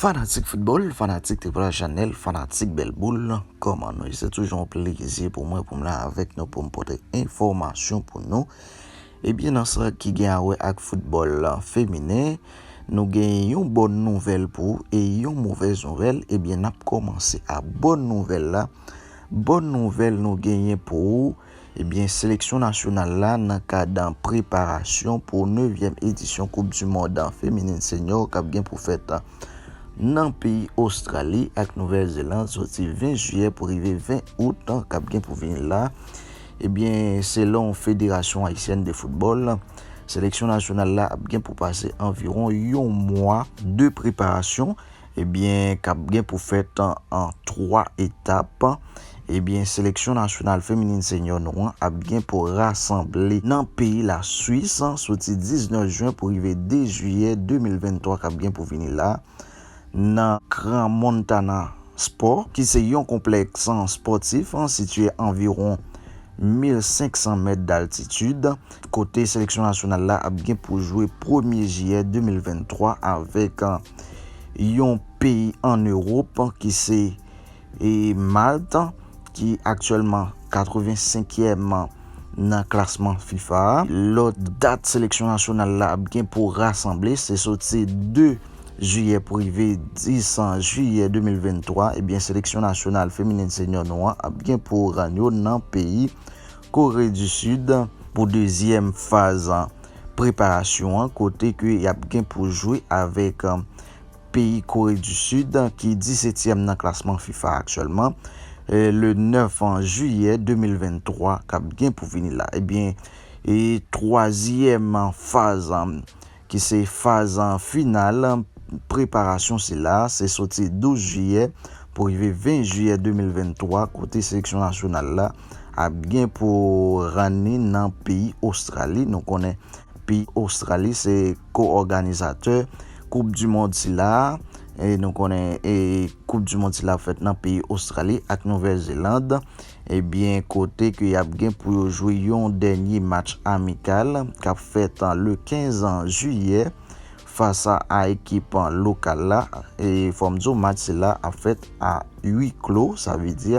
Fanatik foutbòl, fanatik Triple A Chanèl, fanatik bèl boul, kòman nou ye? Se toujou yon plezi pou mwen pou m la avèk nou pou m pote enfòmasyon pou nou. Ebyen nan sa ki gen a wè ak foutbòl feminen, nou gen yon bòn nouvèl pou ou e yon movèz nouvèl. Ebyen n ap kòmanse a bòn nouvèl la, bòn nouvèl nou genyen pou ou, Ebyen seleksyon nasyonal la nan kad preparasyon pou nevyèm edisyon koup du mond feminin senyò kap gen pou fèt nan peyi Ostrali ak Nouvèl Zeland soti 20 jiyè pou rive 20 out kap gen pou vini la. Ebyen selon federasyon ayisyèn de foutbòl seleksyon nasyonal la ap gen pou pase anviwon yon mwa de preparasyon. ebyen kap gen pou fèt an 3 etap ebyen seleksyon nasyonal feminin senyò nou an ap gen pou rasanble nan peyi la swis soti 19 jwen pou rive 2 jiyè 2023 kap gen pou vini la nan Crans-Montana Sport ki se yon konplèks spòtif sitye anviwon 1500 mèt daltitid. kote seleksyon nasyonal la ap gen pou jwe premye jiyè 2023 avèk yon peyi an Ewop ki se Malt ki aktyèlman 85 èm nan klasman fifa a. Lòt dat seleksyon nasyonal la ap gen pou rasanble se soti 2 jiyè pou rive 10 jiyè 2023 ebyen seleksyon nasyonal feminen senyò nou an ap gen pou rann yo nan peyi Kore di Sid pou dezyèm faz preparasyon an kote ke yap gen pou jwe avèk peyi Kore di Sid ki disetyèm nan klasman fifa aktyèlman le 9 jiyè 2023 kap gen pou vini la ebyen twazyèm faz ki se faz final preparasyon sila, se soti 12 jiyè pou rive 20 jiyè 2023 kote seleksyon nasyonal la ap gen pou rann ni nan peyi Ostrali. Nou konnen peyi Ostrali se ko-òganizatè koup di mond sila a e nou konnen koup di mond sila ap fèt nan peyi Ostrali ak Nouvèl Zeland. Ebyen kote ke yap gen pou yo jwe yon dènye match amikal kap fèt le 15 jiyè fas a ekip lokal la e fòm di w match sila ap fèt a ui klo sa vle di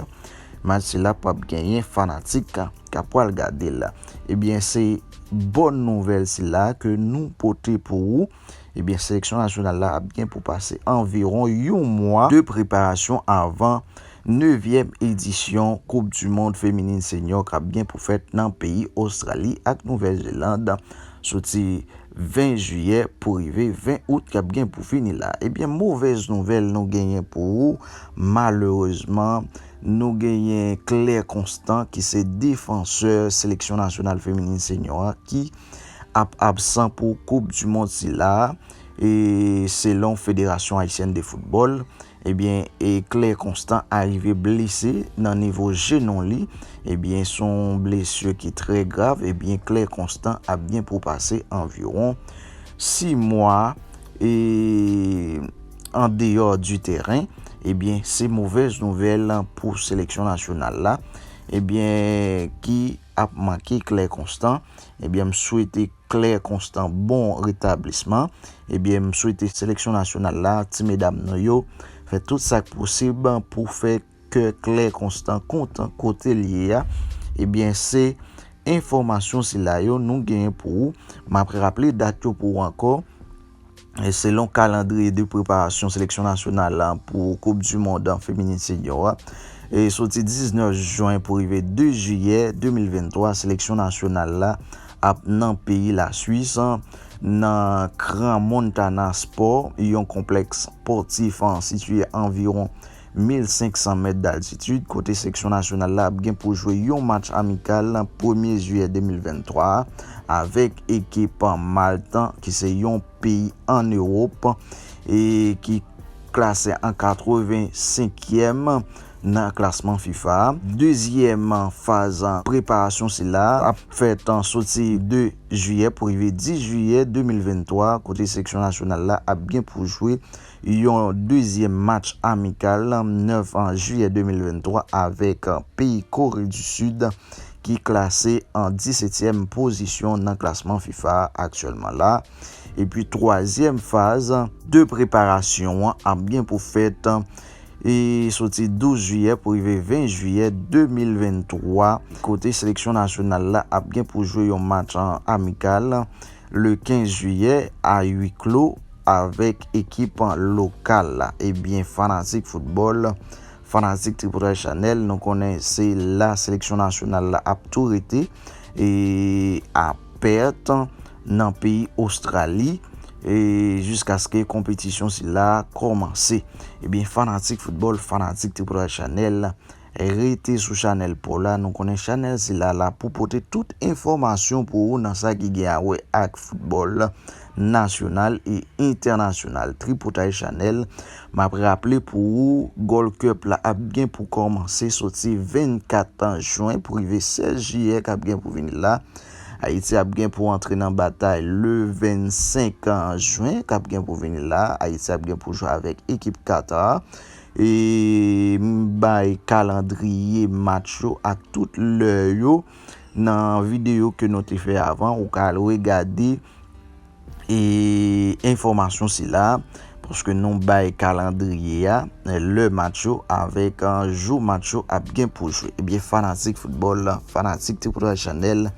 match sila pap genyen fanatik kap pwal gade l ebyen se bòn nouvèl sila ke nou pote pou ou. Ebyen seleksyon nasyonal la ap gen pou pase anviwon yon mwa de preparasyon avan nevyèm edisyon koup du mond feminin senyò kap gen pou fèt nan peyi Ostrali ak Nouvèl Zeland soti 20 jiyè pou rive 20 out kap gen pou fini la. Ebyen movèz nouvèl nou genyen pou ou malerezman nou genyen Claire Constant ki se defansè seleksyon nasyonal feminin senyò a ki ap absan pou koup du mond sila a e selon federasyon ayisyèn de foutbòl ebyen e Claire Constant arive blese nan nivo jenou li ebyen son blesur ki trè grav ebyen Claire Constant ap gen pou pase anviron 6 mwa e an deyò du tèren ebyen se movèz nouvèl pou seleksyon nasyonal la ebyen ki. ap manke Claire Constant ebyen m swete Claire Constant bon retablisman ebyen m swete seleksyon nasyonal la ti medam nou yo fè tout sak posib pou fè kè Claire Constant kontan kote l ye a ebyen se enfòmasyon sila yo nou genyen pou ou map raple dat yo pou ou ankò. selon kalandriye de preparasyon seleksyon nasyonal la pou koup du mond feminin senior a, soti 19 juin pou rive 2 juillet 2023 seleksyon nasyonal la ap nan peyi la Suisse nan Crans Montana Sport, yon konplèks spòtif sitye anviwon 1,500 mèt d'altitid kote seksyon nasyonal la ap gen pou jwe yon match amikal premye jiyè 2023 a avèk ekip Malte ki se yon peyi an Ewop e ki klase an 85 kièm nan klasman fifa a. Dezyèm faz preparasyon sila ap fèt soti 2 jiyè pou rive 10 jiyè 2023 kote seksyon nasyonal la ap gen pou jwe Yon dezyèm match amikal 9 jiyè 2023 avèk peyi Kore di Sid ki klase an disetyèm pozisyon nan klasman fifa a aktyèlman la epi twazyèm faz de preparasyon an ap gen pou fèt soti 12 jiyè pou rive 20 jiyè 2023 kote seleksyon nasyonal la ap gen pou jwe yon match amikal. le 15 jiyè a hui clos avèk ekip lokal la ebyen fanatik foutbòl fanatik Tripotay Chanel nou konnen se la seleksyon nasyonal la ap tou rete e a pèt nan peyi Ostrali e jiskaske konpetisyon sila kòmanse ebyen fanatik foutbòl fanatik Tripotay Chanel Rete sou chanèl paw la nou konnen chanèl sila la pou pote tout enfòmasyon pou ou nan sa ki gen a wè ak foutbòl nasyonal e entènasyonal tripotay chanèl map raple pou ou gold cup la ap gen pou kòmanse soti 24 jen pou rive 16 jiyè kap gen pou vini la ayiti ap gen pou antre nan batay le 25 jen kap gen pou vini la ayiti ap gen pou jwe avèk ekip Qatar M bay kalandriye match yo ak tout lè yo nan videyo ke nou te fè avan. Ou ka al regade enfòmasyon sila a paske nou bay kalandriye a, lè match yo avèk jou match yo ap gen pou jwe. Ebyen fanatik foutbòl, fanatik Tripotay Chanèl.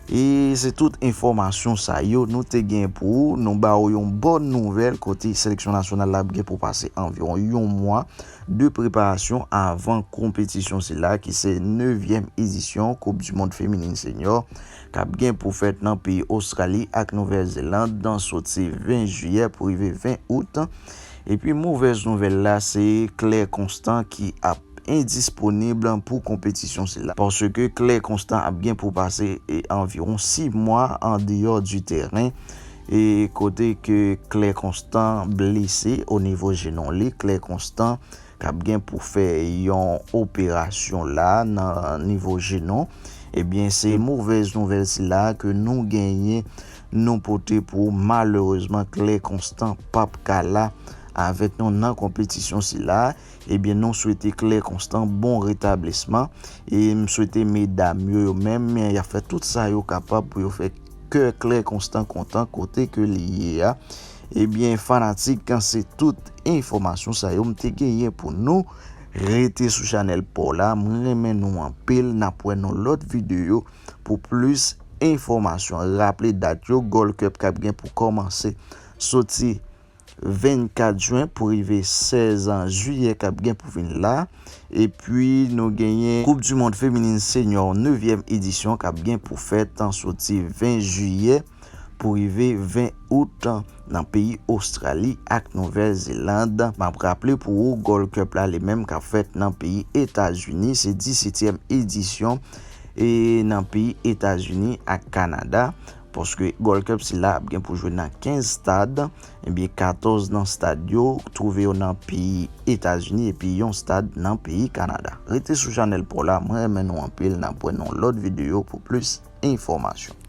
E se tout enfòmasyon sa yo nou te gen pou ou. Nou ba ou yon bòn nouvèl kote seleksyon nasyonal la ap gen pou pase anviwon yon mwa de preparasyon avan konpetisyon sila ki se nevyèm edisyon koup di mond feminin senyò k ap gen pou fèt nan peyi Ostrali ak Nouvèl Zeland soti 20 jiyè pou rive 20 out. Epi movèz nouvèl la se Claire Constant ki ap. endisponib pou konpetisyon sila, paske klè konstan ap gen pou pase anviwon 6 mwa an deyò di tèren, e kote ke klè konstan blese o nivo jenon li, klè konstan kap gen pou fè yon operasyon la nan nivo jenon, ebyen se movèz nouvèl sila ke nou genyen nou pote pou ou, malerezman klè konstan pap ka la avèk nou nan konpetisyon sila. Ebyen nou swete Claire Constant bon retablisman e m swete medam yo yo menm y ap fè tout sa yo kapab pou yo fè kè Claire Constant kontan kote ke li ye a. Ebyen fanatik se tout enfòmasyon sa yo m te genyen pou nou. Rete sou chanèl paw la m renmen nou anpil n ap wè nan lòt videyo pou plis enfòmasyon. Raple dat yo Gold Cup k ap gen pou kòmanse soti. 24 jwen pou rive 16 an jiyè kap gen pou vin la epi nou genyen koup du mond feminin senyò nevyèm edisyon kap gen pou fèt soti 20 jiyè pou rive 20 out nan peyi ostrali ak nouvèl zeland map raple pou ou gold cup la li menm kap fèt nan peyi etazini se 17 èm edisyon e nan peyi etazini ak kanada. Paske Gold Cup sila ap gen pou jwe nan 15 stad, ebyen 14 nan stad yo twouve yo nan peyi Etazini epi yon stad nan peyi Kanada. Rete sou chanèl paw la, mwen renmen nou anpil, nap wè nan yon lòt videyo pou plis enfòmasyon.